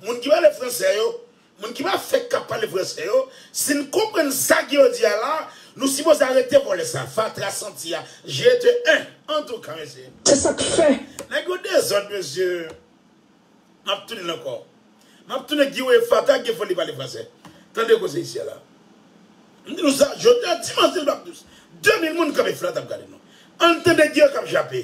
Moun ki pale fransè yo, moun ki pa fèk kap pale fransè yo, si n konprann sa ke yo di a la, nou sipoze arete vòlè sa, fatra santi a, je te en, antouka mesye. Se sak fè nèg yo dezòd mesye map tounen l ankò map tounen di we fatra gen foli li pale fransè tande koze isi a la m di nou sa jodi a dimanch 2 mil moun kanpe fatra ap gade nou ann tande di yo kap jape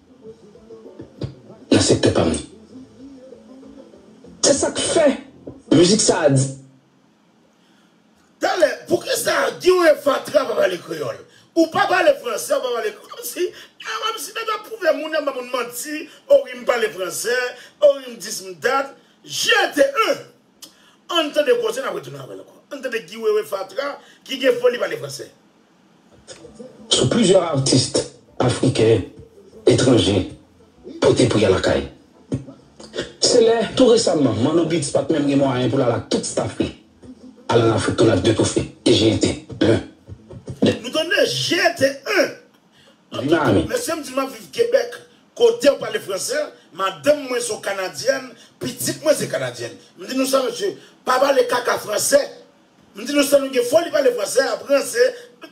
nan sektè pam nan. Se sa k fè mizik sa a di. Talè, poukisa Guy et Fatra pa pale kreyòl? Ou pa pale fransè, ou pa pale kreyòl. Kòm si, eh, kòm si nèg ap pwouve moun, nèg ap ba moun manti, oh wi m pale fransè, oh wi m dis m dat. GTE! An n tande koze n ap retounen avè l ankò. An n tande Guy Wewe Fatra ki gen foli pale fransè. sou plizyè atis afriken, etranje pote pri a lakay. Se lè, tou resamman, Manno Beats pat menm gen mwayen pou l al ak tout staf li al an Afrik tou nèf de tou fe e jete 1 de. Nou tande? Jete 1 de. Mesye m di map viv Kebèk, kotew pale fransè, madanm mwen son kanadyèn, pitit mwen se kanadyèn. M di nou sa mesye, pa pale kaka fransè. M di nou sa nou gen foli pale fransè ap ranse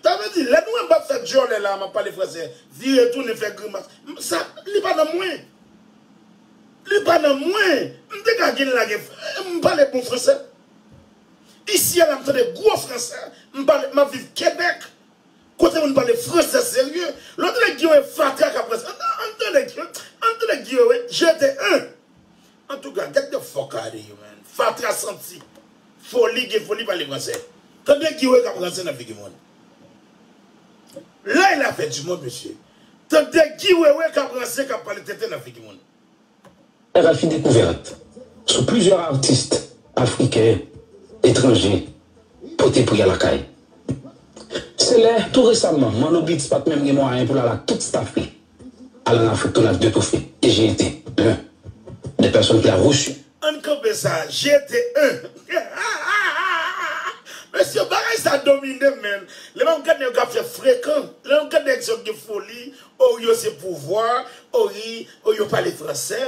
sa vle di lè nou wè m pap fè dyòlè la map pale fransè vire tounen fè grimas sa li pa nan mwen li pa nan mwen m te ka gin lage m pale bon fransè isi a la m tande gwo fransè m pale map viv kebèk kote moun pale fransè serye lè w tande gin yo e fatra kap ranse an tande gin yo e jete en. Antouka get the fuck out of here man fatra santi foli gen foli pale fransè tande guy wewe kap ranse nan figi moun lay la fè du monde mesye tande guy wewe kap ranse kap pale tenten nan figi moun. Rfi Découverte sou plizyè atis afriken, etranje pote pri a lakay. Se lè, tou resaman, Manno Beats pat menm gen mwayen pou l al ak tout staf li. Al nan fout tonat de toufe e jete 1 des personnes qui a reçu. Ann kanpe sa a jete 1. Mesye bagay sa dominem menn lè map gad nèg yo ap fè frekan lè map gad nèg sa yo gen foli oo yo se pouvwa ooi oo yo pale fransè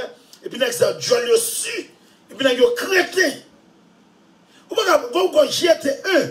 epi nèg sa yo dyòl yo su epi nèg yo kreten ou paka bon ou konn jete 1.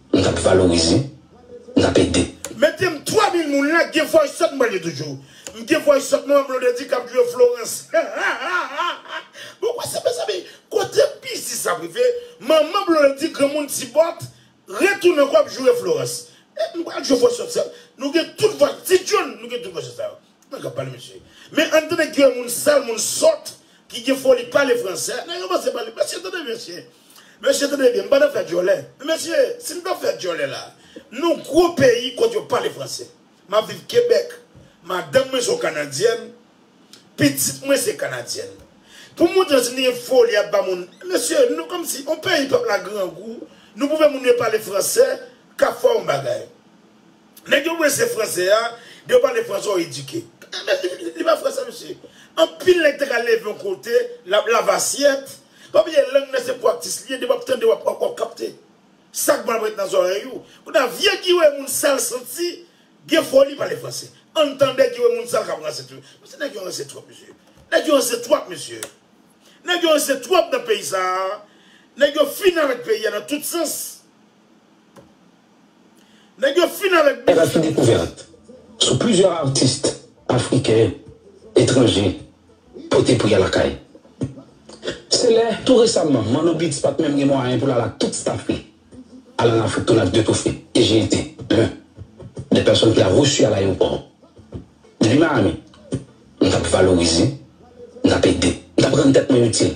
Nou tap valorize, nou tap ede. Metem 3000 moun la gen voice sot mwen pral yo toujou m gen voice sot mwen wè blondedy kap jwe florence hahahaha bon wè sa mezanmi kote biznis ap rive manman blondedy granmoun ti bòt retounen ankò ap joure florence m pral jwe voice sot sa nou gen tout voice ti john nou gen tout voice sot sa yo. Mwen kap pale mesye. Men ann tande kiyè moun sal moun sòt ki gen foli pale fransè. Nèg yo pase pale. Mesye tande byen mesye. Mesye tande byen m pa nan fè dyòlè. Men mesye si m tap fè dyòlè la nou gwo peyi kote yo pale fransè. Map viv Kebèk. Madanm mwen son kanadyèn. Pitit mwen se kanadyèn. Pou m montre si m te gen foli ap ba moun. Mesye nou kòmsi on peyi pèp la grangou nou pou fè moun yo pale fransè kap fè on bagay. Nèg yo prese fransè a, de yo pale fransè ou edike. Men li pa fransè mesye. Anpil nèg te ka leve yon kote, lap lave asyèt. Pa bliye lang nan se praktis li ye, depi wap tande wap kapte. Sak bon ap ret nan zòrèy ou. Kounye a vye giwe moun sal santi gen foli pale fransè. Ann tande giwe moun sal kap ranse tou. Mesye nèg yo ranse twòp mesye. Nèg yo ranse twòp mesye. Nèg yo ranse twòp nan peyi sa a. Nèg yo fini avèk peyi a nan tout sans. Nèg yo fin avèk Pral gen dekouvèt sou plizyè atis afriken, etranje pote pou y al lakay. Se lè tou resamman Manno Beats pat menm gen mwayen pou l al ak tout staf li al an Afrik tounen ak 2 toufe e j'ai été l'un des personnes qu'il a reçu à l'aéroport Depi Miami m t ap valorize, m t ap ede, m t ap rann tèt mwen itil.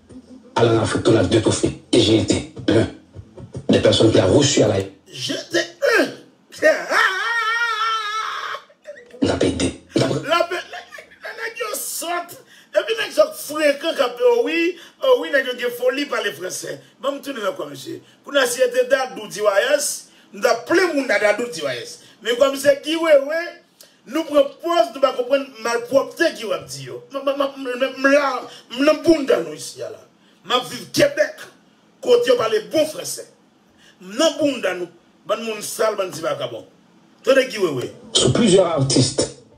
à la Afrique qu'on a deux trophées et j'ai été l'un des personnes qu'il a reçu à la J'étais un N tap ede N tap Lape Nèg yo sòt Epi nèg sa yo k frekan k ap oh wi oh wi nèg yo gen foli pale fransè Ban m tounen nan kwa misye Kou n a si se te Dadou Diwayès M ta plen moun a Dadou Diwayès Men kwa misye Guy Wewe Nou pran pòz nou pa konprann malpwòpte ki wap di yo. M la, m nan bounda nou isi a la. M ap viv Kebèk kote yo pale bon fransè. M nan bounda nou, bann moun sal, bann ti vagabon. Tande Guy Wewe. Sou plizyè atis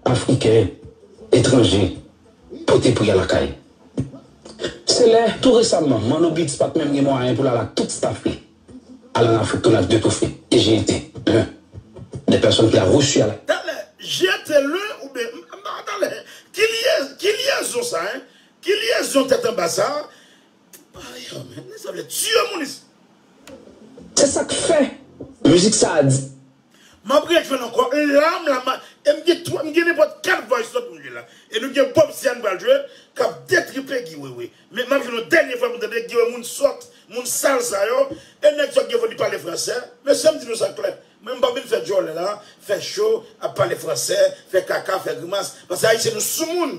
afriken, etranje pote pri a lakay. Se lè, tou resamman, Manno Beats pat menm gen mwayen pou l al ak tout staf li. Al nan fout tonad de toufe e jete le de pèsonn ki a resu a la. Talè, jete le ou byen m pa wè talè ki lye ki lyezon sa hein ki lyezon tèt anba sa epa yo men sa vle tue moun ici. Se sak fè mizik sa a di. Map rejwenn ankò lam la ma e m gen 3 m gen nenpòt 4 voice note pou m jwe la e nou gen Bob Sian m pral jwe kap detripe Guy Wewe men map jwenn yon dènye fwa pou m tande Guy Wewe moun sòt moun sal sa yo e nèg sòt gen foli pale fransè mesye m di nou sa klè mwen m pap vin fè djòlè la fè cho ap pale fransè fè kaka fè grimas paske ayisyen nou soumoun.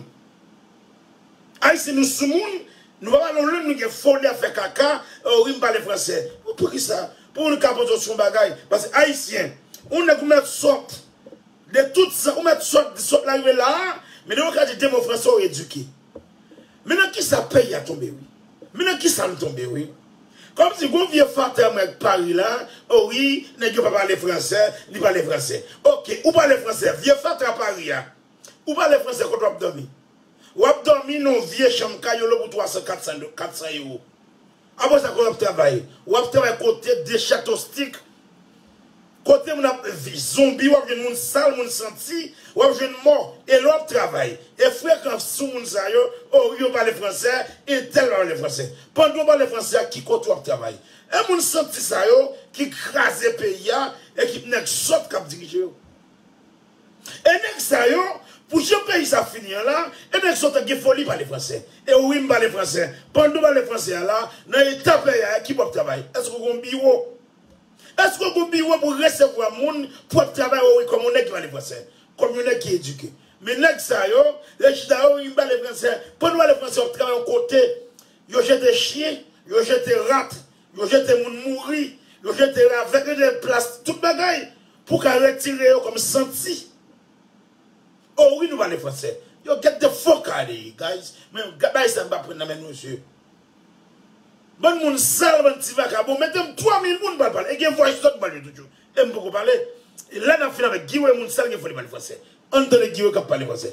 Ayisyen nou soumoun nou pa pale yon lang nou gen foli ap fè kaka oh wi m pale fransè oh poukisa pou nou ka poze w sou yon bagay pase ayisyen yon nèg ou mèt sòt de tout zan ou mèt sòt di sòt la rive la a men depi w ka di de mo fransè ou edike men nan kisa peyi a tonbe wi men nan kisa n tonbe wi kòm si gon vye fatra mwen k pari la oh wi nèg yo pa pale fransè li pale fransè ok ou pale fransè vye fatra pari a. Ou pale fransè kot wap domi. Wap domi non vye chanm kay yo lou pou 300 400 euro. Apre sa kote wap travay. Wap travay kote de chato stik. Kote moun ap zonbi wap jwenn moun sal moun santi wap jwenn mò e lè wap travay e frekan sou moun sa yo oh wi yo pale fransè entèl pa pale fransè pandan ou pale fransè a ki kote wap travay e moun santi sa yo ki kraze peyi a e ki nèg sòt kap dirije yo. E nèg sa yo, pou jan peyi sa ap fini an la, e nèg sa yo tap gen foli pale fransè. E wi m pale fransè. Pandan ou pale fransè a la, nan eta peyi a, ki pou ap travay? Èske ou gon biwo? Èske ou gon biwo pou resevwa moun pou ap travay o wi kòm yon nèg ki pale fransè? Kòm yon nèg ki edike? Men nèg sa yo, lè chita o wi m pale fransè. Pandan ou pale fransè, w ap travay yon kote, yo jete chyen, yo jete rat. Yo jete moun mouri, yo jete ravèt, yo jete plas, tout bagay pou ka retire yo kòm santi. Oh wi nou pale fransè. Yo get the fuck out of here guys men gad bagay sa m pa pran nan men nou mesye. Bann moun sal bann ti vakabon mete m 3 mil moun m pral pale e gen voice note m pral jwe toujou e m poko pale e lè n ap fin avèk Guy Weah moun sal gen foli pale fransè ann tande Guy Weah k ap pale fransè.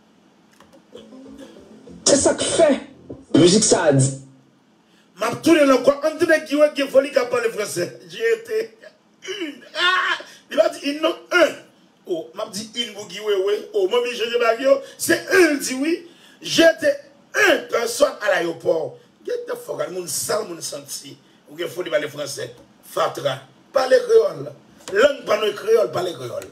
Se sak fè music sa di. Map tounenl ankò ann tande Guy wè gen foli kap pale fransè j'ai été une aah li pa di yn non un oh map di yn pou Guy wewe oh m oblije chanje bagy yo se un l di wi j'ai été un personne à l'aéroport get the fuck out moun sal moun santi ou gen foli pale fransè fatra pale kreyòl lang pa nou e kreyòl pale kreyòl.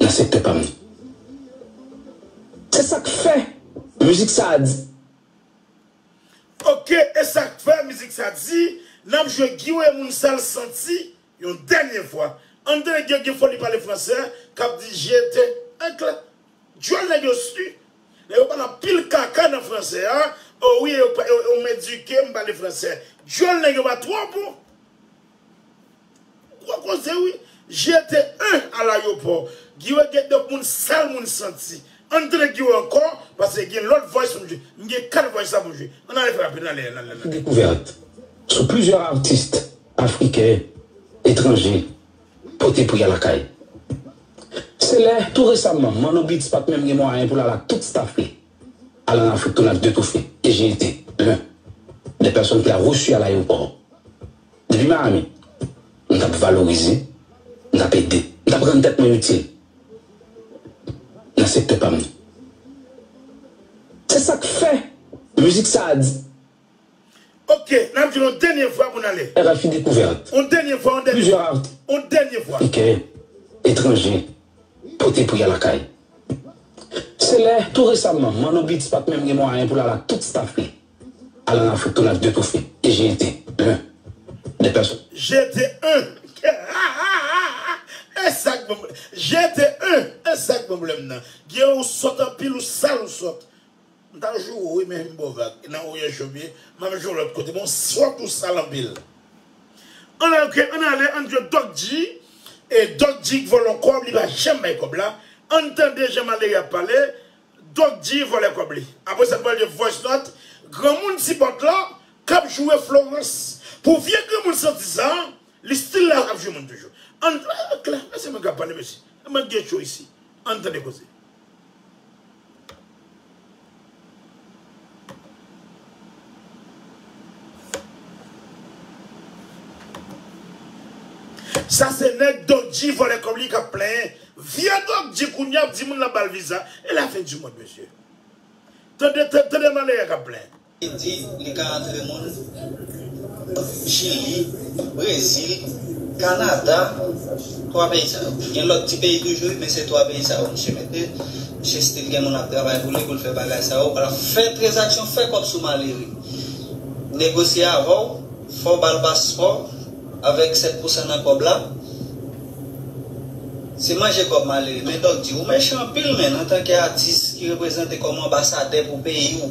nan sektè pam nan. Se sak fè mizik sa di. Ok esak fè mizik sa di nap jwe giw e moun sal santi yon dènye fwa anmde nèg yo gen foli pale fransè kap di jete ankl dyòl nèg yo swi nèg yo pale anpil kaka nan fransè a o wi yo medike m pale fransè dyòl nèg yo pa twò bon. Gwo koze wi, jete 1 al ayopò. Giwe gen de moun sal moun santi. Ann tande Giwe ankò pase gen lòt voice pou m jwe. M gen 4 voice la pou m jwe. Ann ale frape nan lè nan lè nan lè. dekouvèt sou plizyè artist afriken etranje pote pou ya lakay. Se lè tou resamman Manno Beats pat menm gen mwayen pou l al ak tout staff li al an Afrik tounen ak 2 toufe e jete 1 des personnes qu'il a reçu à l'aéroport. Depi Miami, m t ap valorize, m t ap ede, m t ap rann tèt mwen itil nan sektè pa m nan. Se sa k fè mizik sa a di. Ok, n ap di l yon dènye fwa pou n ale. RFI Dekouvèrt, Yon dènye fwa, yon dènye fwa, yon dènye fwa. Pikè etranje pote pou y al lakay. Se lè, tou resamman, Manno Beats pa t menm gen mwayen pou l al ak tout staf li. Al nan fout tou nap de toufe e jete un de pèson. Jete un hahahaa esak bon jete un esak bon blem nan gee ou sòt anpil ou sal ou sòt m ta jou ou wi men m baw vag nan oye jom ye map jou lòt kote men ou sòt ou sal anpil an ok an ale an jwe dòk di e dòk di k vòlò kòb li pa janm bay kòb la an tande jan malere ap pale Doc G vòlè kòb li. Apre sa t pral gen voice note granmoun ti bòt la kap joure Florence pou vye granmoun santi sa li still la ap jwe moun toujou ann klè men se mwen kap pale mesye e mwen t gen cho isi ann tande koze. Sa se nèg Doc-G vòlè kòb li kap plenyen vye Doc-G kounye ap di moun lap bal viza e la fin du monde mesye tande tande malere kap plenyen. Li di li ka antre moun Chili, Brezil, Kanada, 3 peyi sa yo. Gen lòt ti peyi toujou wi men se 3 peyi sa yo misye mete. Misye stil gen moun ap travay pou li pou l fè bagay sa yo. Ala fè trezaksyon, fè kòb sou malere. Negosye avè w, fè w ba l paspò avèk 7 pousan nan kòb la. Se manje kòb malere. Men dòk di, ou mechan anpil menn antanke atis ki reprezante kòm anbasadè pou peyi w.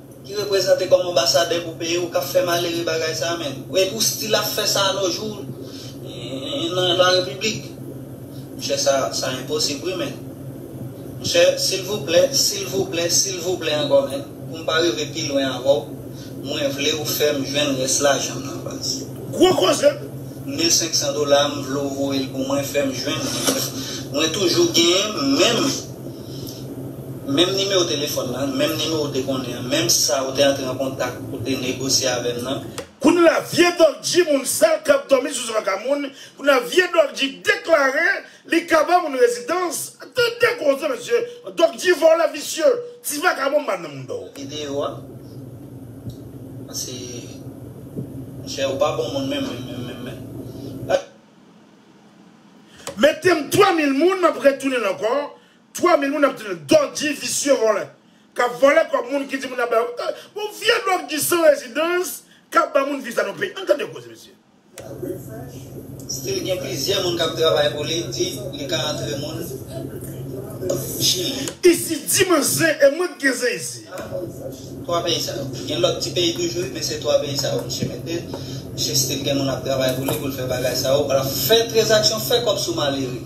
ki reprezante kòm anbasadè pou peyi ou kap fè malere bagay sa men epi ou stil ap fè sa a no jou nan la repiblik monchè sa sa enposib wi men monchè silvouplè silvouplè silvouplè ankò men pou m pa rive pi lwen avè w mwen vle ou fè m jwenn rès lajan m nan baz. Gwo koze! 1500 dola a m vle w voye l pou mwen fè m jwenn li mwen toujou genyen menm. Menm nimewo telefòn nan, menm nimewo w te konnen an, menm sa ou te antre an kontak pou te negosye avè m nan. Kounye la vye Dolgy moun sal kap domi sou zòn ka moun, kounye la vye Dolgy deklare li ka ba moun rezidans, tande koze mesye, Dolgy vòlè visye, ti vagabon m'pa nan moun dò. Video a Pase monchè ou pa bon moun menm menm menm menm menm. Metem 3000 moun map retounenl ankò 3000 moun ap tounenl dodji visye vòlè kap vòlè kòb moun kidi moun ap bay bon vye dogji san rezidans kap ba moun viv sa nan peyi an tande koze mesye. Still gen plizyè moun kap travay pou li di li ka antre moun chili. Isi di man zen e mwen ki gen zen isi. 3 peyi sa yo. Gen lòt ti peyi toujou wi men se 3 peyi sa yo misye mete. Misye stil gen moun ap travay pou li pou l fè bagay sa yo. Ala fè trezaksyon fè kòb sou malere.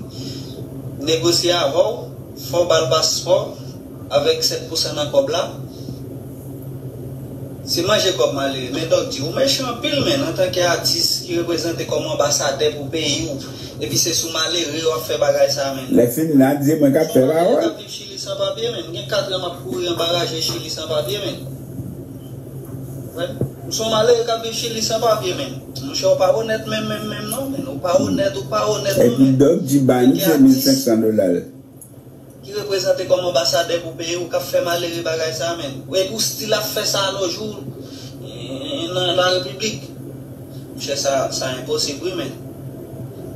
Negosye avè w, fè w ba l paspò avèk 7 pousan nan kòb la. Se manje kòb malere. Men Dòk di, ou mechan anpil menn antanke atis ki reprezante kòm anbasadè pou peyi w epi se sou malere w ap fè bagay sa a menn. Lè fin la di mwen k ap fè pawòl. Chili san papye menn. M gen 4 an map kouri anba raje chili san papye menn. Wè, m son malere kap viv chili san papye menn. Monchè ou pa onèt menm menm menm non menn. Ou pa onèt, ou pa onèt non menn. Epi Doc di ba nou 2500 dola l. Ki reprezante kòm anbasadè pou peyi w kap fè malere bagay sa menn. Epi w stil ap fè sa a no jou nan la repiblik. Monchè sa sa enposib wi menn.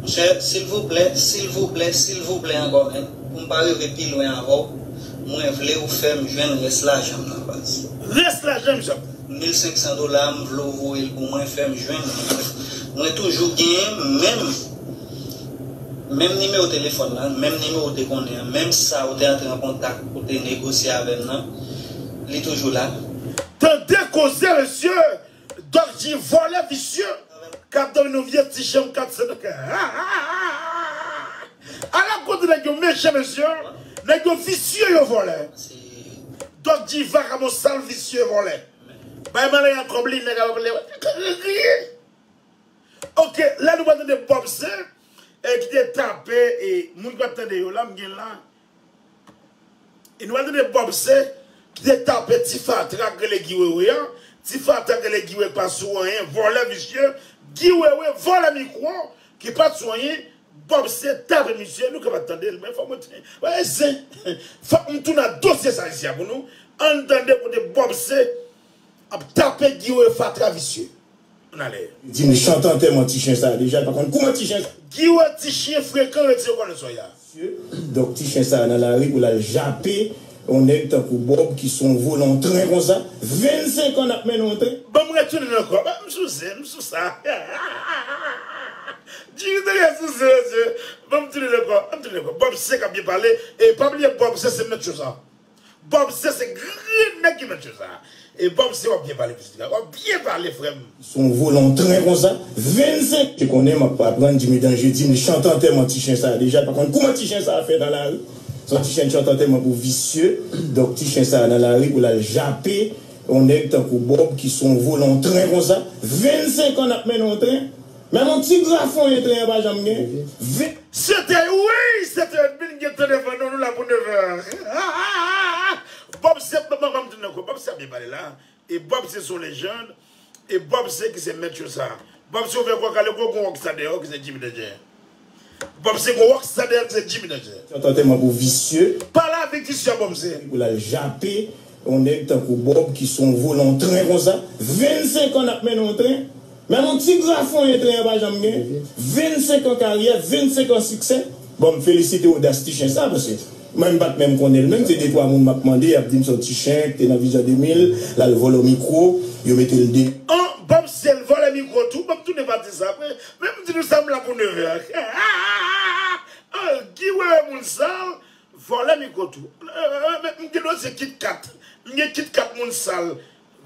Monchè silvouplè silvouplè silvouplè ankò menn poum pa rive pi lwen avèw mwen vlew fèm jwenn rès lajanm nan baz. Rès lajanm jan. 1500 dola a m vle w voye l pou mwen fè m jwenn li mwen mwen toujou genyen menm menm nimewo telefòn nan menm nimewo w te konnen an menm sa ou te antre an kontak ou te negosye avè m nan li toujou la. Tande koze mesye Doc di vòlè visye kap dòmi nan vye ti chanm 404 hahahahahaha ala kote nèg yo mechan mesye nèg yo visye yo vòlè Doc di vakabon sal visye vòlè bay malè a kòb li nèg a pale krikrikrikri ok la nou pral tande bob se kite tape moun ki pat tande yo la m gen la. E nou pral tande Bob se ki te tape ti fatra k rele Guy Wewe a, ti fatra k rele Guy Wewe k pa sou anyen, vòlè visye, Guy Wewe vòlè mikwo ki pat sou anyen, Bob se tape misye, nou kapab tande l men fòk mwen ti, bagay zen, fòk m tounen ak dosye sa isi a pou nou, ann tande kote Bob se ap tape Guy Wewe fatra visye. An ale. Li di m chante antèman ti chen sa deja, l pa konn kouman ti chen sa. Guy wè ti chyen frekan yo di yo konnen sòy la. Sye, donk ti chen sa nan lari pou l al jape yon nèg tankou Bob ki son vo nan yon tren konsa, 25 an n ap mennen yon tren. Ban m retounen nan kò m, m sou ze, m sou sa. Guy te gen sou ze, ze, ban m tounen nan kò, ban m tounen nan kò. Bob se k ap byen pale, e pa bliye Bob se se mèt cho sa. Bob se se grenn nèg ki nan tchyo sa. E bob se wap byen pale pitit la. Wap byen pale frèm. Son volan tren konsa. 25 te konnen map aprann jimmy danger dim chant antèman ti chen sa deja l pa konn kouman ti chen sa fè nan lari son ti chen chant antèman pou visye donk ti chen sa nan lari pou lal jape yon nèg tankou bob ki son volan tren konsa 25 an nap mennen yon tren. Menm yon ti grafonyen tenyen pa janm gen, vin. Se te uii se te min gen tan devan nou nou la pou 9 heures hahahaa Bob se map map tounne anko Bob sa byen pale la e Bob se son lejand e Bob se ki se mèt cho sa Bob se ou fè kò kale gwo gwo wòk sa deyò ki se Jimmy Danger. Bob se gwo rock star Daniel se Jimmy Danjè. Yon tantèman pou visye. Pa la vi visye a Bob se. Pou l al jape yon nèg tankou Bob ki se yon volan yon tren konsa. 25 an n ap mennen yon tren. Menm yon ti grafonyen tren an pa janm gen. 25 an karyè, 25 an siksè. Bon m felisite odas ti chen sa paske mwen m pa t menm konnen l menm se de twa moun m ap mande y ap di m se yon ti chen k te nan Vision 2000 l al vòlò mikwo yo mete l deyò. An Bob se l vòlè mikwo tou Bob tounen pa di sa apre Men m di nou sa m la pou 9 è ok hahahaa oh Guy wewe moun sal vòlè mikro tou men m gen dosye kitkat m gen kitkat moun sal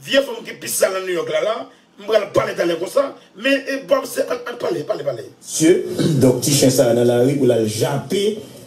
vye fanm ki pi sal nan New York la la m pral pale talè konsa men Bob se an an pale pale pale. Sye, donk ti chen sa a nan lari pou l al jape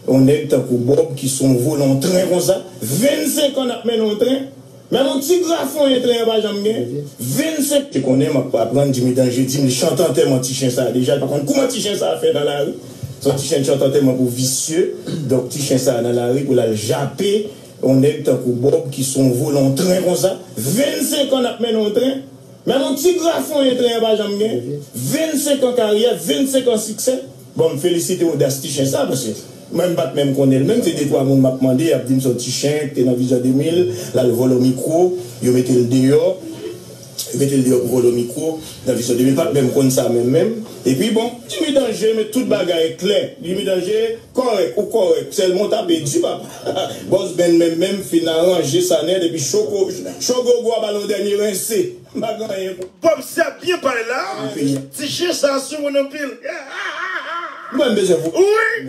yon nèg tankou Bob ki son volontren konsa, 25 an n ap mennen yon tren. Menm yon ti grafonyen tren an pa janm gen, 25. Te konnen map aprann Jimmy Danger dim li chante antèman ti chen sa deja li pa konn kouman ti chen sa fè nan lari son ti chen ki chante antèman pou visye donk ti chen sa nan lari pou lal jape yon nèg tankou Bob ki son volo yon tren konsa 25 an nap mennen yon tren menm yon ti grafonyen tren an pa janm gen 25 an karyè 25 an siksè. Bon m felisite odas ti chen sa paske mwen m pat menm konnen l menm se de twa moun map mande yap dim se yon ti chen ki te nan vizyon 2000 lal vòlò mikwo yo mete l deyò yo mete l deyò pou vòlò mikwo nan vizyon 2000 pat menm konn sa menm menm epi bon Jimmy danje men tout bagay klè Jimmy danje kòrèk ou kòrèk sèlman w tape di papa Boss Ben menm menm fin aranje Sanet epi Choco Chogogo ap al yon dènye rense. M pa gen anyen pou. Bob se ap byen pale la. M fini. Ti chyen sa a soumoun anpil. M pa bezwen pou. Wi.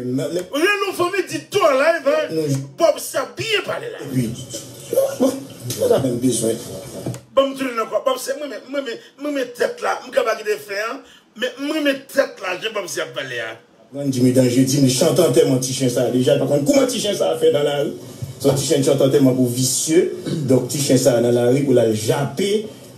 Lè nou fanmi di tou an live a. Bob se ap byen pale la. Epi. M pa ta menm bezwen. Banm tounen ankò. Bob se m renmen m renmen tèt la. M ka pa kite fen an. Men m renmen tèt la jan Bob se ap pale a. Aprann di medan je dim li chante antèman ti chen sa deja li pa konn kouman ti chen sa fè nan lari son ti chen chante antèman pou visye donk ti chen sa nan lari pou lal jape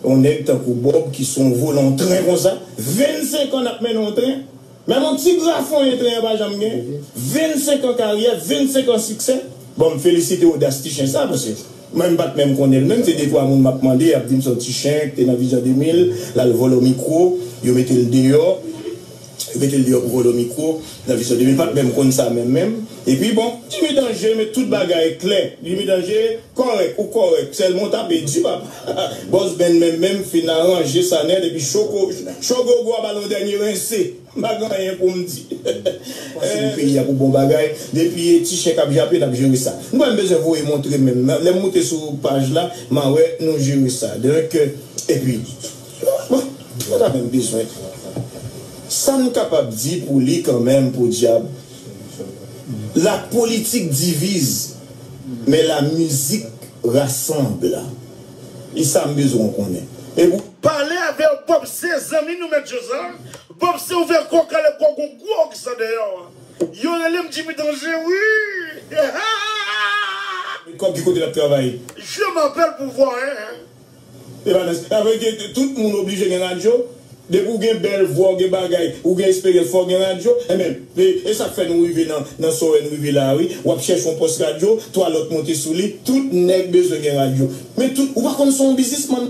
yon nèg tankou Bob ki son volan tren konsa 25 an nap mennen yon tren menm yon ti grafonyen tren an pa janm gen 25 an karyè 25 an siksè bon m felisite odas ti chen sa paske mwen m pat menm konnenl menm se de twa moun map mande yap dim son ti chen ki te nan vizyon 2000 lal vòlò mikwo yo metel deyò. Metel deyò pou vòlò mikro nan vizyon Jimmy pat menm konn sa menm menm epi bon Jimmy danje met tout bagay klè Jimmy danje kòrèk ou kòrèk sèlman ou tape di papa Boss Ben menm menm fin aranje sa nèt epi choko cho gogo a bal yon dènye rense m pa gen anyen poum di pase m peyi a pou bon bagay depi e ti chen kap jape nap jere sa nou pa menm bezwen voye montre menm lèm moute sou paj la ma wè nou jere sa donc epi. Mwen pa ta menm bezwen. Sa m kapab di pou li kanmenm podyab, la politik diviz men la mizik rasanble. E sa m bezwen w konnen. E pou. Pale avè w Bob se zanmi nou mèt Joza. Bob se ouvè kò w kale kò w gon gwo ogsan dèyè w. Yo rele m Jimmy Danje wi. Kòb ki kote l ap travay? Je m apèl pou vwa 1. Evanes, sa vle di tout moun oblije gen radyo? Depi ou gen bèl vwa, ou gen bagay, ou gen esperyans fò w gen radyo? Enben, e sa k fè nou rive nan sò wè n rive la a wi. W ap chèche yon pòs radyo, twa lòt monte sou li, tout nèg bezwen gen radyo. Men tout, ou pa konn se yon biznismann?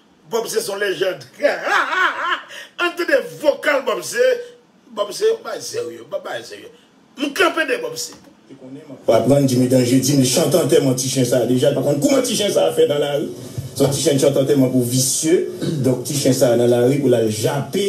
Bob se son lejand Ann tande vokal Bob se Bob se yon bagay serye Bob bagay serye M kanpe de Bob se Ou aprann di Medan je di m li chante antèman ti chen sa deja l pa konn kouman ti chen sa fè nan lari se yon ti chen chante antèman pou visye donk ti chen sa nan lari pou l al jape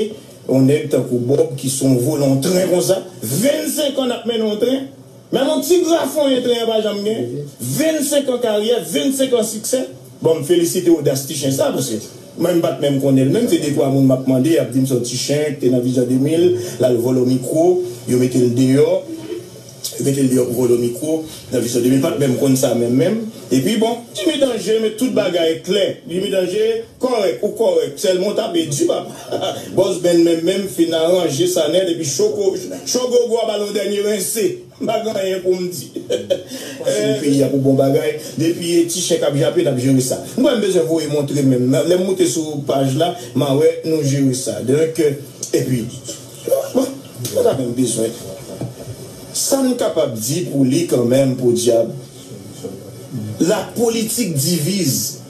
yon nèg tankou Bob ki son volon tren konsa 25 an n ap mennen yon tren. Men yon ti grafonyen treyen pa janm gen, 25 an karyè, 25 an siksè. Bon m felisite odas ti chen sa paske mwen m pat menm konnen l menm se de twa moun map mande yap dim se yon ti chen ki te nan vizyon 2000 lal vòlò mikwo yo mete l deyò yo mete l deyò pou vòlò mikwo nan vizyon 2000 m pat menm konn sa menm menm epi bon Jimmy Danger met tout bagay klè Jimmy Danger Kòrèk ou kòrèk sèlman ou tape di papa. Bòs Ben menm menm fin aranje sa nèt epi cho gogo a bal yon dènye rense. M pa gen anyen pou m di. Pase m peyi a pou bon bagay. Depi e ti chèk ap jape nap jere sa. M kwè m bezwen voye montre menm nan. Lè m moute sou paj la ma wè nou jere sa. Donk epi bon m pa ta menm bezwen. Sa m kapab di pou li kanmenm podyab. La politik diviz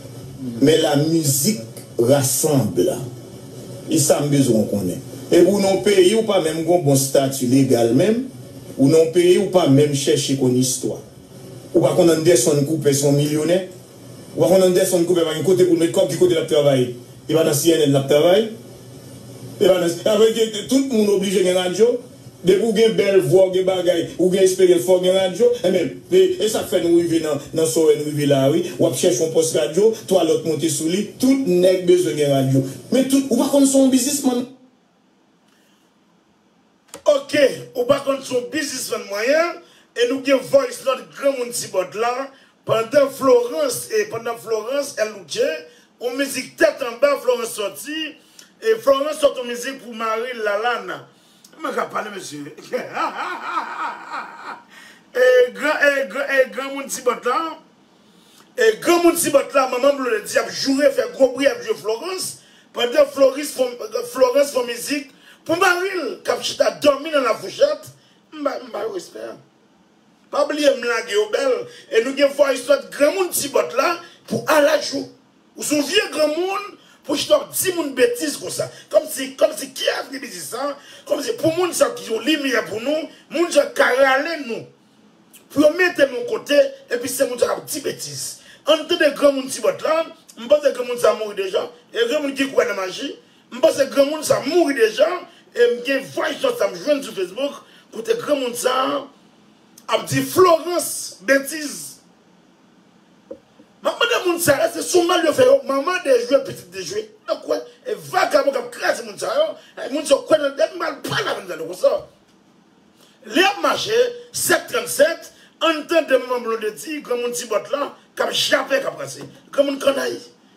men la mizik rasanble e sa m bezwen w konnen. Epi w nan yon peyi w pa menm gen yon bon stati legal menm, w nan yon peyi w pa menm chèche konn istwa. Ou pa konn Anderson Cooper se yon milyonè? Ou pa konn Anderson Cooper pa gen kote pou l met kòb, ki kote l ap travay? E pa nan cnn l ap travay? E pa nan, sa vle di tout moun oblije gen radyo? Depi w gen bèl vwa, w gen bagay, ou gen esperyans fò w gen radyo, enben e sak fè nou rive nan nan sowè n rive la a wi, wap chèche yon pòs radyo, 3 lòt monte sou li, tout nèg bezwen gen radyo, men tout, ou pa konn son w bizismann. Ok, ou pa konn son w bizismann mwen an, e nou gen voice lòt granmoun ti bòt la, pandan Florence e pandan Florence el Luce, yon mizik tèt anba Florence sòti, e Florence sòt yon mizik pou maril Lalana, Mwen kap pale mesye. E gran e gran e gran moun ti bòt la. E gran moun ti bòt la manman blue le di ap joure fè gwo bri ap jwe Florence pandan Floris fon Florence fon mizik pou maril kap chita dòmi nan la fouchèt m ba m ba yo respè an pa bliye m lage yo bèl e nou gen voice note gran moun ti bòt la pou alajou. Ou son vye granmoun pou w chita wap di moun betiz konsa. Komsi komsi ki avni biznis sa? Komsi pou moun sa yo ki yon limyè pou nou, moun sa yo ka rale nou pou yo mete nou yon kote epi se moun sa yo kap di betiz. Ann tande granmoun ti bòt la, m panse granmoun sa mouri deja, e gen moun ki kwè nan maji, m panse granmoun sa mouri deja e m gen voice note la m jwenn sou Facebook kote granmoun sa ap di Florence betiz. Map mande moun sa eske son mal yo fè yo manman dejwe pitit dejwe nan kwen e vagabon kap kraze moun sa yo e moun sa yo kwè nan dèm mal pral avèm tande konsa lè yap mache 7 37 ann tande manman blondedy granmoun tibòt lan kap jape kap kraze granmoun kannay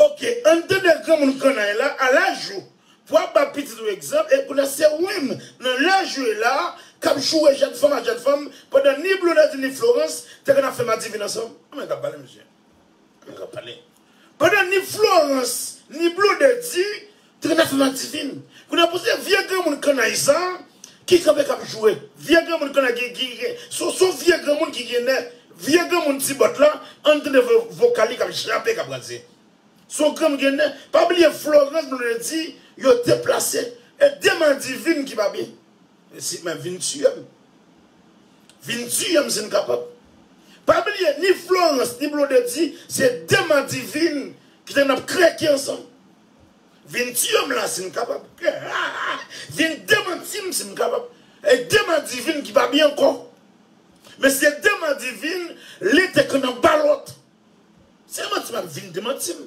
Ok ann tande granmoun kannay la a laj ou pou ap ba pitit ou egzanp e kounya se oumenm nan laj ou e la a kap joure jèn fanm a jèn fanm pandan ni Blondedy ni Florence te konn ap fè madivin ansanm kouman yo kap pale mesye kouman yo kap pale pandan ni Florence ni Blondedy Tren nasyonal divin. Kounye a pou se vye granmoun kannay sa ki kanpe kap joure. Vye granmoun kannay ki gen son son vye granmoun ki gen nè. Vye granmoun ti bòt la ann tande vokal li kap jape kap kraze. Son granmoun ki gen nè. Pa bliye Florence Blondedy yo deplase. E de madivin ki pa byen. Mesi men vin tiyem. Vin tiyem sin kapab. Pa bliye ni Florence ni Blondedy se de madivin ki te nan krèki ansanm. Vin tiye m la si m kapab. Vin demanti m si m kapab. E dema divin ki pa byen ankò. Men si se dema divin, li te konn an balòt. Se manti map vin demanti m.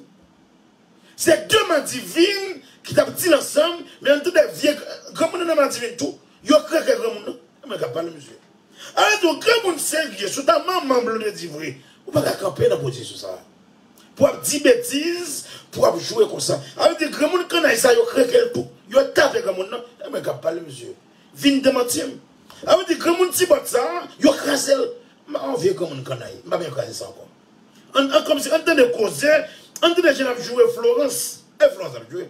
Se dema divin ki tap di l ansanm, men an tande vye granmoun nan dema divin tou. Yo kreke granmoun nan. E mwen kap pale mesye. Alè tou granmoun serye sou ta manman Blondedy vre, ou pa ka kanpe nan pozisyon sa a. Pou ap di betiz pou ap jwe konsa. A vle di granmoun kannay sa yo kreke l tou. Yo tape granmoun nan. E mwen k ap pale mesye. Vin demanti m. A vle di granmoun ti bòt sa yo kraze l. M pa yon vye granmoun kannay. M pa bezwen kraze sa ankò. An an kòmsi an tande koze. An tande jan n ap jwe Florans. E Florans ap jwe.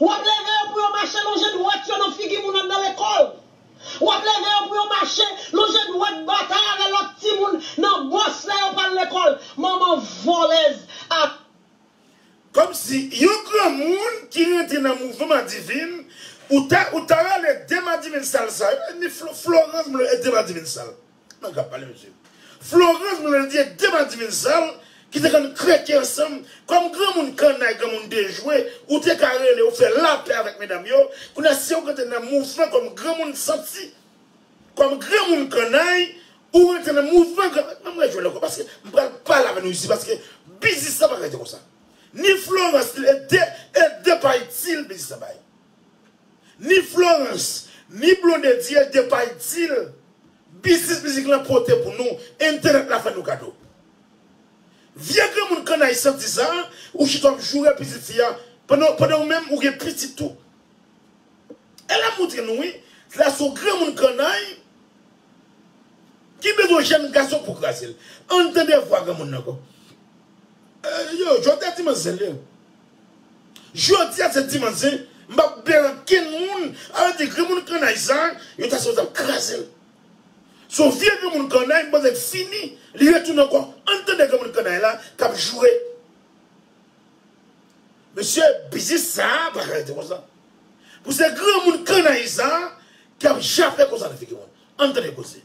W ap leve yo pou yo mache lonje dwèt yo nan figi moun anndan lekòl. W ap leve yo pou yo mache lonje dwèt batay avè lòt timoun nan bòs lè yo pral lekòl. Manman vòlèz ak. Kòmsi yon granmoun ki rantre nan mouvman madivin ou ta ou ta rale de madivin sal sa yo e ni florans mlo e de madivin sal. Nèg la ap pale mesye. Florence Blondie de madivin sal ki te konn kreke ansanm kòm granmoun kannay granmoun dejwe ou te ka rele ou fè lapè avèk medam yo kounya se ou ki te nan mouvman kòm granmoun santi kòm granmoun kannay ou rete nan mouvman granmoun pa m rejwenn ankò paske m pral pale avè nou isi paske biznis la pa ka rete konsa ni Florence ni e de e de pa itil biznis la bay. Ni Florence, ni Blondedie Depay di l, Biznis mizik lan pote pou nou, entènèt la fè nou kado. Vye granmoun kannay santi sa a, ou chita w ap joure pitit fi a, pandan ou menm ou gen pitit tou. E la m moutre nou wi, la se yon granmoun kannay ki bezwen yon jèn gason pou kraze l. Ann tande vwa granmoun nan ankò. Yo, Jodha di manzèl yo. Jodia se dimanch zen m pap bel ankenn moun ala de granmoun kannay sa yo ta sot ap krazel son vye granmoun kannay m panse l fini li retounen ankò ann tande granmoun kannay la kap joure mesye biznis sa pa ka rete konsa pou se granmoun kannay sa kap jape konsa nan figi moun ann tande koze.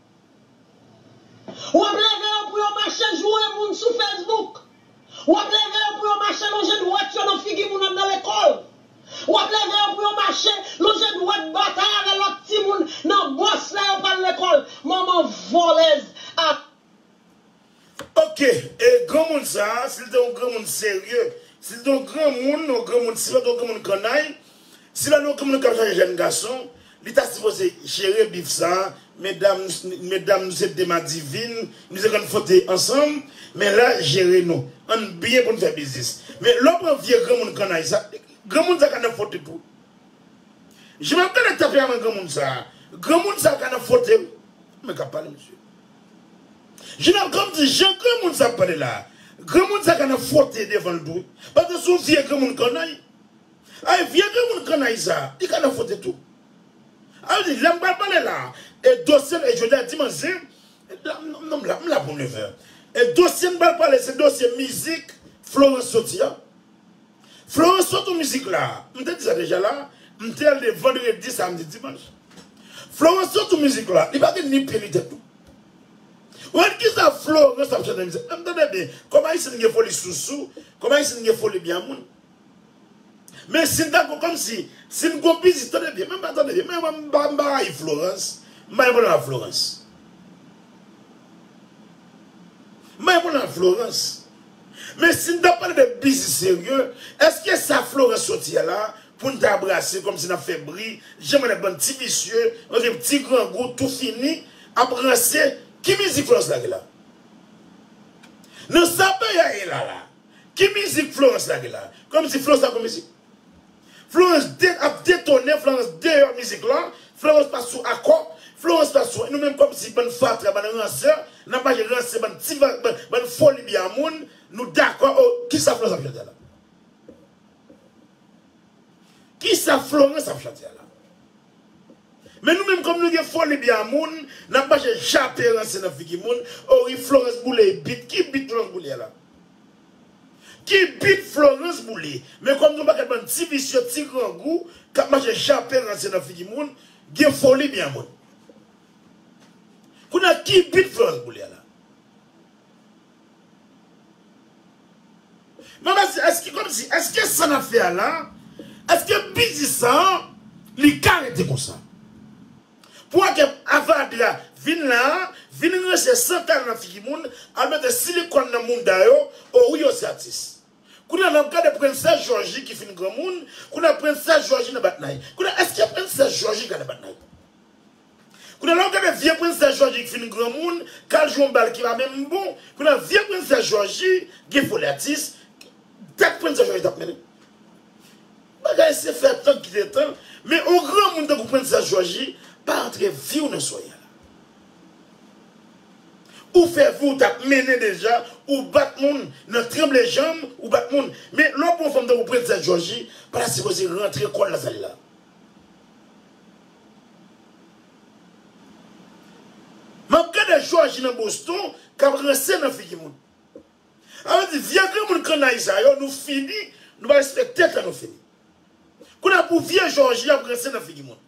W ap leve yo pou yo mache joure moun sou Facebook. W ap leve yo pou yo mache lonje dwèt yo nan figi moun anndan lekòl. W ap leve yo pou yo mache lonje dwèt batay avè lòt timoun nan bòs lè yo pral lekòl. Manman vòlèz a. Ok e granmoun sa si l te yon granmoun serye si l te yon granmoun yon granmoun si l pat yon granmoun kannay si lal yon granmoun kap chaje jèn gason li ta sipoze jere bif sa medam medam nou se de madivin nou se konn frote ansanm men la jere nou ann byen pou n fè biznis men lè w pran vye granmoun kannay sa granmoun sa ka nan frote tou jan map gade tanperaman granmoun sa granmoun sa ka nan frote wi mwen kap pale mesye. Jina pranm di jan granmoun sa ap pale la granmoun sa ka nan fwote devanl tou paske son vye granmoun kannay ay vye granmoun kannay sa li ka nan fwote tou al di lèm pral pale la e dosyem e jodia dimanch se nonm la m la pou nevè e dosyem pral pale se dosye mizik Florence soti an. Florence sot ou mizik la M te di sa deja la M te ale vandredi samdi dimanch Florence sot ou mizik la Li pa gen ni pye ni tèt tou Ou gad kisa Florence ap chante nan mizik la M tande byen Kòm ayisyen gen foli sousou Kòm ayisyen gen foli byen a moun Men si m ta gon kòm si Si m gon pitit tande byen M pa tande byen M pa rayi Florence M pa gen pwoblèm ak Florence. Mwen konn al Florans. Men si n ta pale de biznis serye, èske sa Florans soti a la pou n ta brase kòm si n ap fè bri, jan mwen ak bann ti visye, ok, ti grangou tou fini, ap ranse, ki mizik Florans lage la? Nan sa peyi a ye la la, ki mizik Florans lage la? Kòm si Florans pa konn mizik? Florence de ap detonnen Florence deyò mizik la Florence pa sou akò Florence pa sou nou menm kòmsi bann fatra bann ransè nap mache ranse bann ti bann folibya moun nou dakò oh kisa Florence ap chante la kisa Florence ap chante la. Men nou menm kòm nou gen foli bya moun nap mache jape ranse nan figi moun oh wi Florence boule y bit ki bit Florence boule a la ki bit Florence boule men kòm nou paket bann ti visye ti grangou kap mache jape ranse nan figi moun gen foli bya moun kounya ki bit Florence boule a la. Mwen mèsi eske komsi eske sa nap fè a la eske biznis sa an li ka rete konsa pou a ke avadra a vin la a vin ranje san talè nan figi moun al mete silikòn nan mouda yo o wi yo se atis. Kounya lèw gade princesse Georgie ki fin granmoun kounya princesse Georgie nan batnay kounya eske princesse Georgie ka nan batnay kounya lèw gade vye princesse Georgie ki fin granmoun kal jwe yon bal ki pa menm bon kounya vye princesse Georgie gen foli atis dat princesse Georgie tap mennen bagay se fè tan kite tan men yon granmoun tankou princesse Georgie pa antre viw nan soya. Ou fè vi w tap mennen deja ou bat moun nan tranble janm ou bat moun men lè w pran fanm tankou princesse jòji pata sipoze rantre kòl nan sal la map gade jòji nan boston kap ranse nan figi moun a map di vye granmoun kannay sa yo nou fini nou pa respekte tèt la nou fini kounye a pou vye jòji ap ranse nan figi moun.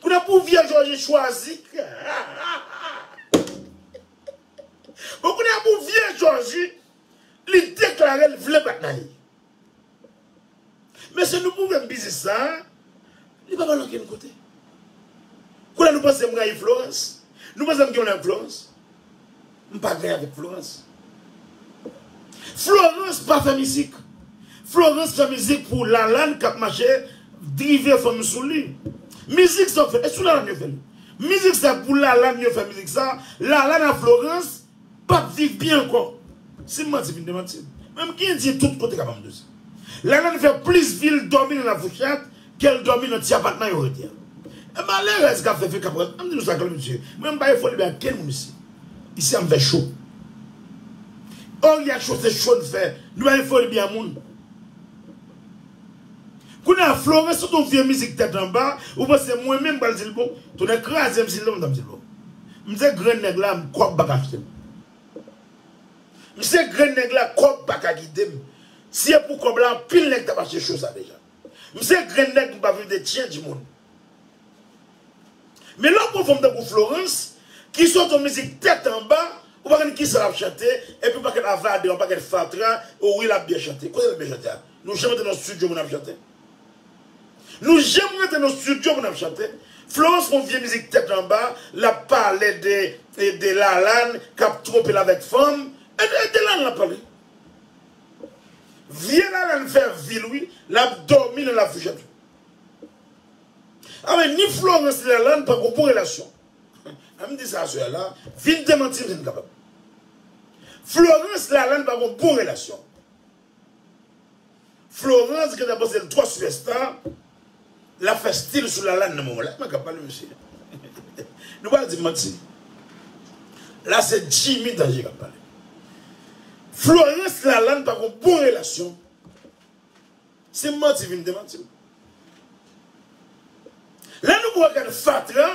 Koulè pou vye jòje chwazi. Bon koulè pou vye jòji li deklare l vle bat naye. Mesye nou pwouve m biznis sa a li pa bal okenn kote. Koulè nou panse m rayi Florans? Nou panse m gen yon lè ak Florans? M pa gen avèk Florence. Florence pa fè mizik. Florence fè mizik pou Lalane kap mache drive fanm sou li. Mizik sa yo fè, e sou Lalane yo fè l. Mizik sa pou Lalane yo fè mizik sa. Lalane a Florence pap viv byen ankò. Si m manti vin demanti m. Men m gen di tout kote kap anm de sa. Lalane fè plis vil dòmi nan Lafouchèt Gel domi nan ti apatman yo rete an. E malerez kap fe feka pran. Anm di nou sa klè mesye. Mwen m pa ye foli bay ak kenn moun isi. Isi anm fe cho. Or ya cho se cho n fe. Nou pa ye foli bya moun. Kounya florens sot yon vye mizik tet anba ou panse mwen menm m pral dil bon. Tonè krazem si l love m tap dil bon. M se grenn neg la m kob paka achte m. M se grenn neg la kob paka gidem. Si e pou kob la anpil neg tap achte cho sa deja. M se grenn nèg m pa vle de change moun. Men lè w pran fòm tankou Florence ki sot yon mizik tèt anba ou pa konn kisa lap chante epi yon pakèt avade yon pakèt fatra o wi lap byen chante. Kote lap byen chante a? Nou janm antre nan studio moun ap chante? Nou janm rantre nan studio moun ap chante? Florence pran yon vye mizik tèt anba lap pale de Lalane kap twonpe l avèk fanm e de Lalane lap pale. Vye lalann fè vil wi lap domi nan lafouchèt wi. Anmweyy ni Florence ni Lalane pa gon bon relasyon an m di sa sè a la vin demanti m si n kapab Florence Lalane pa gon bon relasyon Florence gentan panse l twò sipèsta. Lap fè stil sou Lalane nan moman la. Mwen kap pale mesye. Nou pa al dim manti. La se Jimmy Danger kap pale. Florence Lalane pa gon bon relasyon. Sim manti vin demantim. Lè nou pran kad fatra.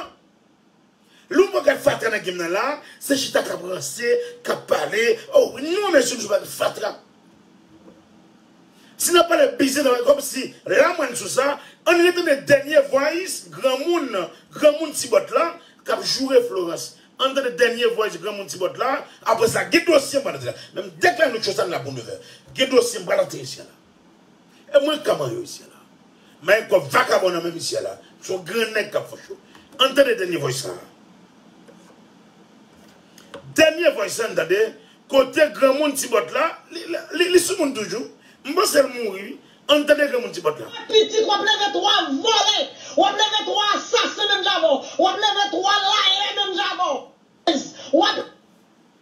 Lè w pa gad fatra nan game nan la, se chita kap ranse, kap pale, oh wi non mesye msye pa gen fatra. Si nap pale biznis nap fè kòb si la mwen sou sa, ann re tande dènye voice granmoun granmoun ti bòt la kap joure Florence, ann tande dènye voice granmoun ti bòt la, aprè sa gen dosye m pral antre la, menm dèk la nou cho sa n la pou 9 è, gen dosye m pral antre ici a la. E mwen kman yo isye la. Mayi kob vakabon nan menm isye la son gran neg kap fè show an tande denye voice sa denye voice an tande kote granmoun ti bòt la li sou moun toujou m pansel mouri wi an tande granmoun ti bòt la. Wap pitit wap leve 3 vòlè wap leve 3 asasen menm jan avèw wap leve 3 layè menm jan avèw wap.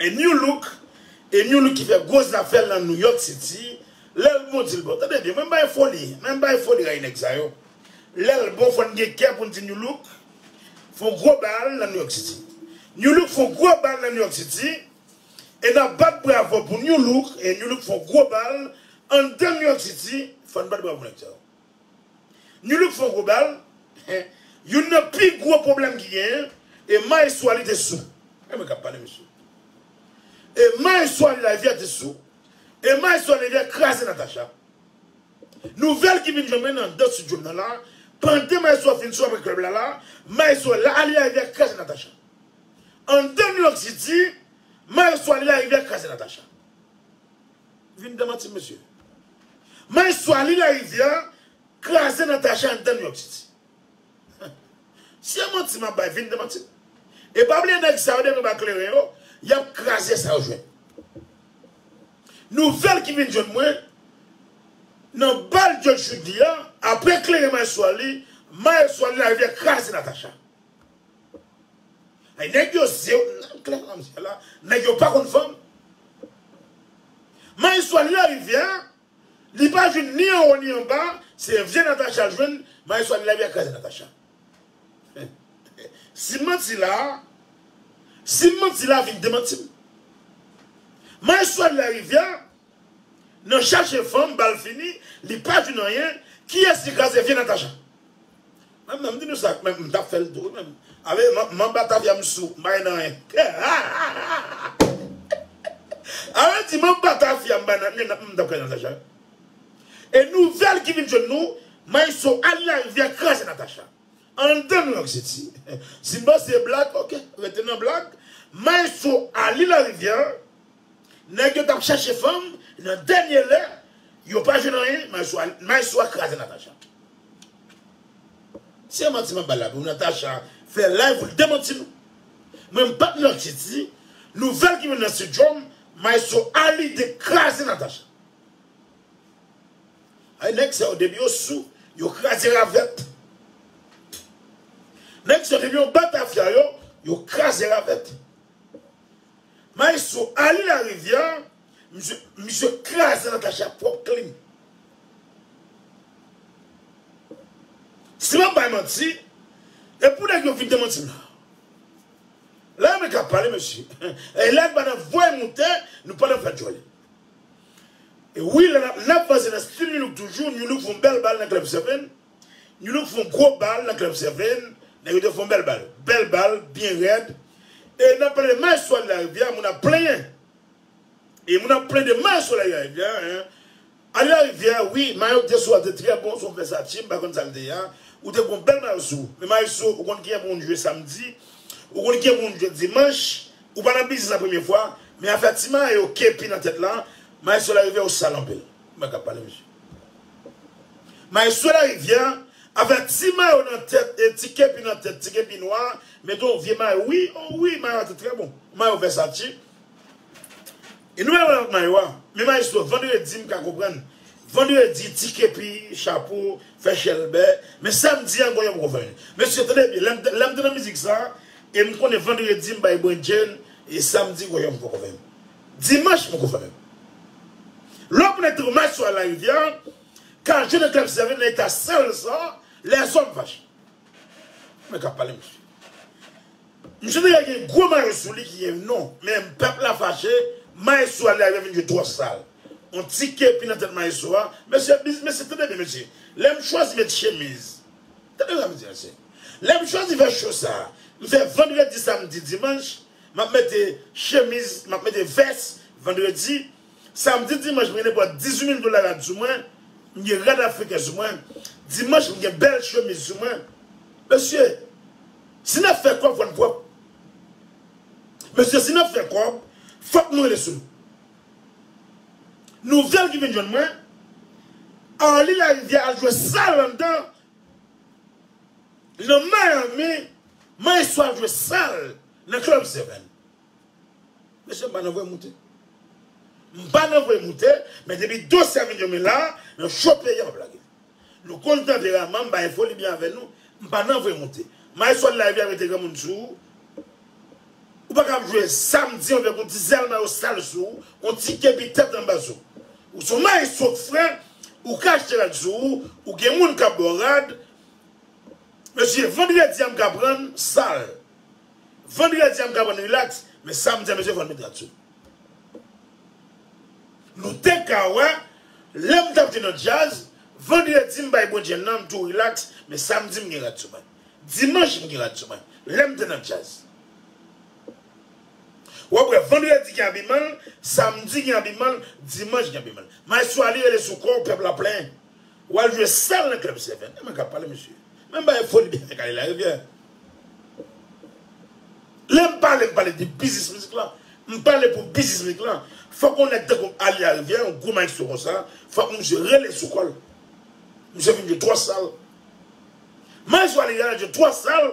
E new look E new look ki fè gwo zafè l nan New York City Lè l bon di l bon Tande byen mwen bay foli Mwen bay foli rayi nèg sa yo Lè l bon fò n gen kè pou n di New look fon gwo bal nan New York City New look fon gwo bal nan New York City E n ap bat bravo pou new look E new look fon gwo bal anndan New York City Fò n bat bravo pou nèg sa yo. Nu look fon gwo bal Youn nan pi gwo pwoblèm ki genyen e maestro a li te sou E mwen kap pale mesye E maestro a li la evya te sou E maestro a li evya kraze Natacha Nouvèl ki vin jwenn mwen nan andan studio m nan la Pandan maestro a fin sou aprè club la la Maestro a li la evya li kraze Natacha Andan Nu look city Maestro a li la evya kraze Natacha. Vin demanti m mesye. Maestro a li larivyè a kraze Natacha anndann yon ti ti. Si e manti map bay vin demanti m. E pa bliye nèg sa yo depi yo pa kleren yo, yap kraze sa yo jwenn. Nouvèl ki vin jwenn mwen nan bal Judge Chudi a, aprè kleren maestro a li, maestro a li larivyè kraze Natacha. Hey nèg yo zye yo nan klè manmzèl la nèg yo pa konn fanm Maes swali la rivyè a li pa jwenn ni anwo ni anba se vye Natacha l jwenn Maes swali lavi a kraze Natacha si m manti la si m manti la vin demanti m Maes swali la rivyè a nan chache fanm bal fini li pa jwenn anyen kiyès ki kraze vye Natacha. Menm nan m di nou sa menm m tap fèl tou wi menm ale m'en batavia m sou m pa gen nan yen ale di m'en batavia m pa gen nan yen m tap fè nan Natacha e nouvèl ki vin jwenn nou Maestro al nan rivyè kraze Natacha andan New York City si m panse se blag ok rete nan blag Maestro ale nan rivyè. Nèg yo tap chèche fanm nan dènye lè yo pa jwenn anyen maestro a kraze Natacha se manti map bal la pou Natacha fè live poul demanti nou mwen m pap manti di nouvèl ki vin nan studio m maestro a li te kraze Natacha ay nèg sa yo depi yo sou yo kraze ravèt nèg sa yo depi yo batafia yo yo kraze ravèt. Maestro Arly Larivière misye misye kraze Natacha ak pwòp klim. Si map bay manti e pou nèg yo vin demanti m la. Lè yo met la pale mesye e lè pa nan voye moute nou pa nan fè djòl. E wi lè nap vanse nan stil Nu-look toujou Nu-look fon bèl bal nan club 7. New look fon gwo bal nan club Cervin, nèg yo te fon bèl bal, bèl bal, byen rèd, e nap pale de Maes Soleil la rivyè, moun ap plenyen e moun ap plen de Maes Soleil la rivyè, ale la rivyè, wi mayo ki te sou a te trè bon, son Versace, m pa konn sal te ye a, ou te gon bèl mayo sou, men Maestro ou konn kijan pou moun jwe samdi, ou konn kijan pou moun jwe dimanch, ou pa nan biznis la premye fwa, men afè ti mayo, kepi nan tèt la, Maes Soleil la rivyè ou sal anpil. Kman kap pale mesye. Maestro larivyè avè ti mayo nan tèt e ti kepi nan tèt ti kepi nwa mete yon vye mayo wi oh wi mayo a te trè bon mayo vèsace e nou wè lòt mayo a men maestro vandredi m ka konprann vandredi ti kepi chapo fè chèlbè men samdi an gonyon m poko fè mesye tande byen lèm lèm te nan mizik sa e m konnen vandredi m bay brenndjen e samdi gonyon m poko fè. Dimanch poko fè menm. Lè w konnen Thomas sou Alain Rivière ka jwenn èkle obsève nan eta sal sa a, lèzòm fache. Mwen ka pale mesye. Mesye deja gen gwo mayo sou li ki gen non, men pèp la fache, maestro Alain Rivière vin jwe twò sal. On ti kepi nan tèt maestro a, mesye biz mesye tande byen mesye, lè m chwazi met chemiz, tande sa m di mesye, lè m chwazi fè show sa a, m fè vandredi, samdi, dimanch, Map mete chemiz, map mete vès vendredi, samdi, dimanch mwen gen nenpòt 18 mil dola la du mwen, m gen rad afriken su mwen, dimanch m gen bèl chemiz su mwen. Mesye, si nap fè kòb fò n pwòp. Mesye si nap fè kòb fòk nou rele su nou. Nouvèl ki vin jwenn mwen, Arly Larivière al jwe sal anndan. Nan Miami, Maestro ap jwe sal nan Club Seven. Mesye m pa nan vwe moute. M pa nan vwe moute, men depi dosye a vin yon men la, nan cho peyi a wap lage. Nou konn tanperaman m, m pa gen foli byen avè nou, m pa nan vwe moute. Maestro live li ap rete granmoun sou ou. Ou pa kab jwe samdi avèk yon ti zèl mayo sal sou ou, yon ti kepi tèt anba sou. Ou son maestro k fre, ou ka achte rad sou ou, ou gen moun kap baw rad, mesye vendredi a m ka prann sal, vendredi a m ka prann relax, men samdi a mesye fòn met rad sou m. Nou te ka wè lè m tap te nan djaz, vendredi m bay bon djaz nan m tou relax, men samdi m gen rad sou mwen, dimanch m gen rad sou mwen, lè m te nan djaz. Wap wè vandredi gen abimanl, samdi gen abimanl, dimanch gen abimanl. Maestro a li rele sou kòw pèp la plen. Wal jwe sal nan club seven. Eman kap pale mesye. Menm bagay foli byen fèk ale larivyè. Lèm pale m pale de biznis mizik lan. M pale pou biznis mizik lan. Fòk yon nèg tankou m ale larivyè yon gwo maestro konsa fòk misye rele sou kòl. Misye vin jwe twò sal. Maestro a li rele jwe twò sal.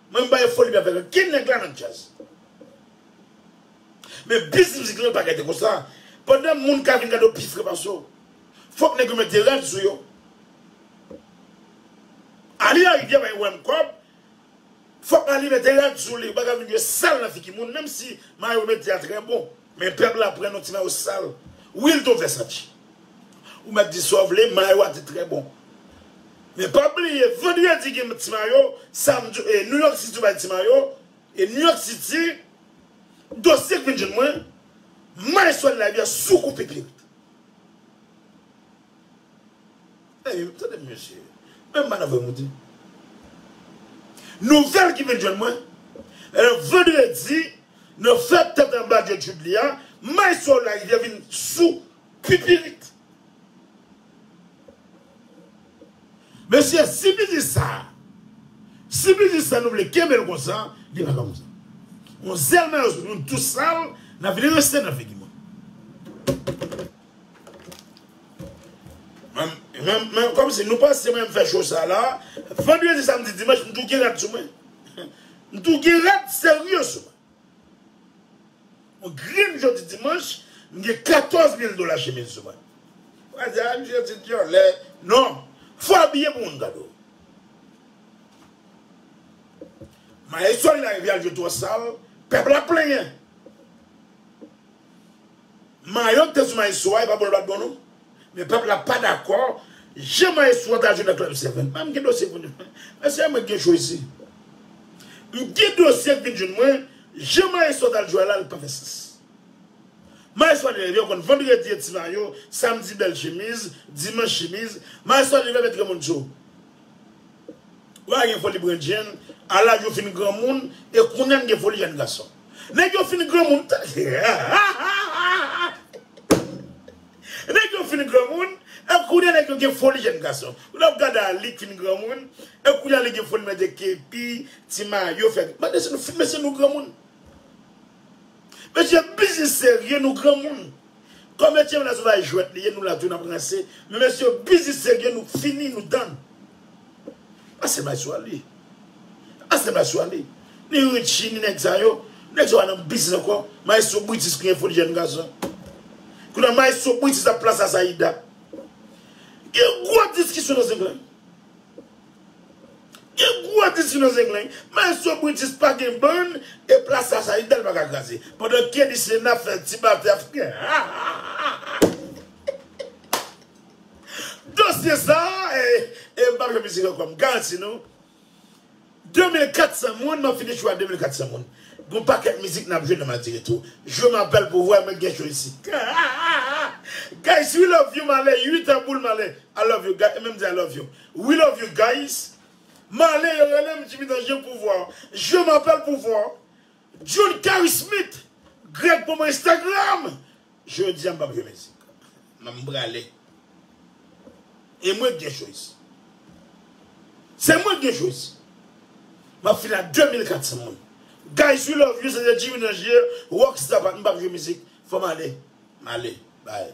Mwen m pa yon foli avèk ankenn nèg la nan djaz. Men biz mizik lan pa gade konsa. Pandan moun ka vin gade w pi fre pase w, fòk nèg yo mèt de rad sou yo. Aly a rivyè bay wèm kòb, fòk Aly mèt de rad sou li, ou pa ka vin jwe sal nan figi moun menm si mayo medya trè bon. Men pèp la pran nou ti nan yo sal wi l ton vèsanti ou mèt di sa w vle mayo a te trè bon men pa bliye vandredi gen ti mayo samdi e nouyòk siti bay ti mayo e nouyòk siti dosye k vin jwenn mwen may swèl labyè sou kou pipirit. Hey tande m mesye menm madanm mwen mouri Nouvèl ki vin jwenn mwen Vandredi nan fèt tèt anba Dye Jude li a May Soul Larivière vin sou Pipirit Mesye si biznis sa Si biznis sa nou vle kenbe l konsa li pa konsa On zèl mayo sou nou tout sal nan vin rense nan figi mwen. Mwen kom si nou panse mwen fè show sa la Vendredi samedi dimanche m tou gen rad sou mwen M tou gen rad serye sou mwen Mwen grenn jodi dimanche m gen 14 mil dola chemiz sou mwen Ou pa di a misye ti dyòlè Non Fò abiye pou moun gade w Maestro li la rivyal yo twò sal Pèp la plenyen Mayo ki te sou maestro a e pa bon l pat bon non men pèp la pa dakò jan maestro a ta jwe nan club 7 m gen dosye pou nou fè mesye mwen gen cho isi m gen dosye k vin jwenn mwen jan maestro a tal jwe a la l pa fè sans maestro a te leve ou konn vendredi e ti mayo samdi bèl chemiz dimanch chemiz maestro a te leve met Raymond cho. Ou pa gen foli pran jenn a laj ou fin granmoun e kounya n gen foli jenn gason. Nèg yo fin granmoun Nèg yo fin granmoun e kounya nèg yo gen foli jenn gason. Ou ta ap gade Arly k fin granmoun e kounya li gen foli mete kepi, ti mayo fè. Mande si nou fin mesye nou granmoun. Mesye biznis serye nou granmoun. Komedyen menas bay jwet li ye nou la tou nap ranse men mesye yo bizi serye nou k fini nou tann ase bay swa li ase bay swa li ni Richie ni nèg sa yo nèg sa yo pa nan biznis ankò maestro Brutus gen foli jèn gason kounya maestro Brutus ap plas Asaïda gen gwo diskisyon nan zenglen Gen gwo endistri nan Zenglen, Maestro Britis pa gen bann e plas sa sa Idèle pa ka kraze. Pandan Kenny Sena ap fè ti batè ap fè Dosye sa e m pap jwe mizik ankò m garanti nou. 2400 moun map fini show a 2400 moun gon pakèt mizik nap jwe nan madi retou jwe ma bèl pou wè mwen k gen show isit guys we love you male ui tanboul male I love you guys menm di I love you we love you guys male yo relem jimmy dans jwe pou wè jwe ma bèl pou wè John Cary Smith Greg pou mwen Instagram Jodia m pap jwe mizik nan m prale E mwen k gen choix Se mwen k gen choix Map fini ak 2400 moun Guys we love you se te Jimmy Nanger Rockstar pa m pap jwe mizik Fò m ale M ale Bye.